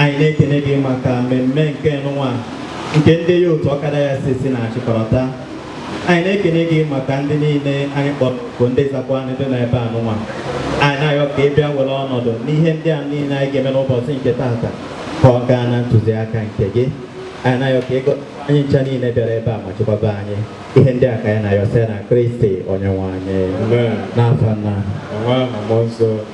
anyị na-ekene gị maka mmemme nke nụnwa nke ndị ya otu ọkada ya sisi na-achịkọrọta anyị na-ekene gị maka ndị niile anyị kpọrọ bụ ndị zakwa anyị dị n'ebe a nụnwa anyị na-ayọ ka ị bịa were ọnọdụ n'ihe ndị a niile anyị ga-eme n'ụbọchị nke taata ka ọ gaa na ntụziaka nke gị anyị na-ayọ ka ị gọzie anyị ncha niile bịara ebe a ma chekwaba anyị ihe ndị a ka anyị na-ayọ si na Kristi onye nwe anyị Amen. n'afa Nna Amen. Amen. Amen.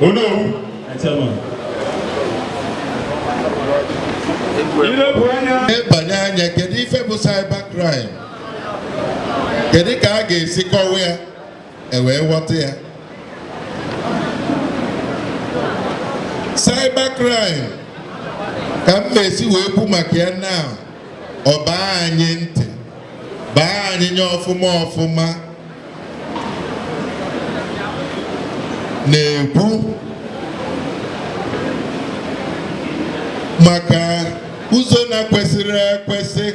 Onowu. I lebanye anya kedu ife bụ cyber crime kedu ka a ga-esi kọwa ya e wee ghọta ya cyber crime ka m na-esi wee kwu maka ya na ọ baa anyị ntị baa anyị nye ọfụma ọfụma na-ekwu maka ụzọ na-ekwesịghị ekwesị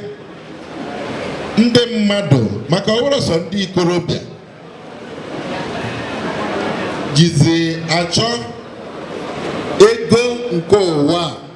ndị mmadụ ma karịsịa ndị ikorobịa jizi achọ ego nke ụwa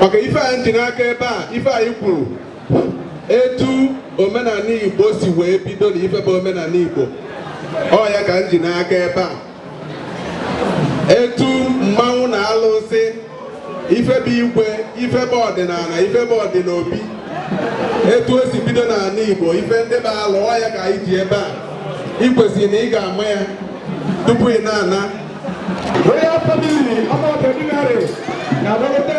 maka ife anyị ji n'aka ebe a ife anyị kwuru etu omenala Igbo si wee bido na ife bụ omenala Igbo ọ ya ka m ji n'aka ebe a etu mmanwụ na alụsị ife bụ igwe ife bụ ọdịnala ife bụ ọdịnaobi etu o si bido n'ala Igbo ife ndị bụ alụ ọ ya ka anyị ji ebe a ị kwesịrị na ị ga-ama ya tupu ị na-ana royal family ọmọ ordinary na-agbagote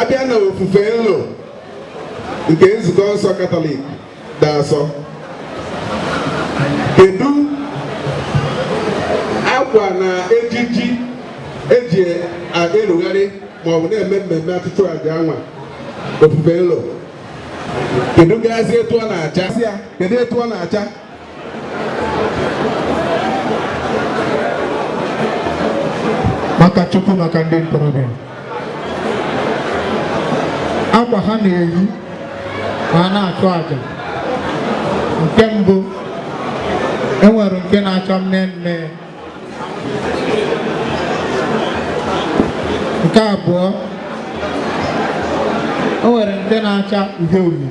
a bịa na ofufe nlo nke nzukọ nsọ katọlik dị asọ kedu akwa na ejiji e ji erugharị maọbụ na-eme mmemme ọchụchụ aja a nwa ofufe nlo kedu gazi etu ọ na-acha kedu etu ọ na-acha maka Chukwu maka ndị ntorobịa akwa ha na-eyi ma a na-achụ aja nke mbụ e nwere nke na-acha mme mme nke abụọ o nwere nke na-acha uhie uhie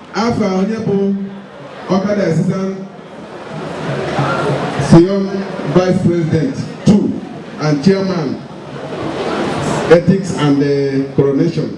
afa onye bụ ọkada Association Vice President 2 and Chairman Ethics and the uh, Coronation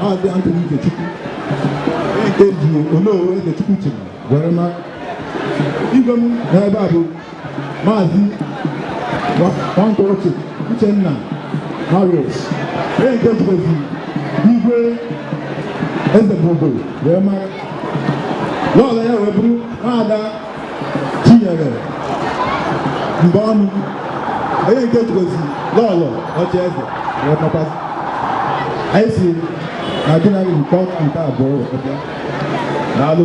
Maazị Anthony Ikechukwu eji Onowu Ezechukwu chiri were ma igwe m n'ebe a bụ Maazị Nwankorochi Uchenna Marius onye nke jikwazi igwe eze bụ obodo wee mara lọọlọ ya wee bụrụ nwaada Chinyere mgbe ọnụ onye nke jikwazi lọlọ ọchị eze wee pọpasị anyị si na gị na gị nke ọkụ nke abụọ wee pọpịa daalụ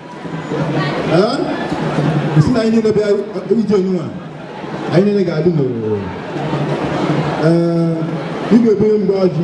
sị na anyị niile bịa ije n'ụwa anyị niile ga-adị n'ororo ị ga-ebunye mgbe ọjị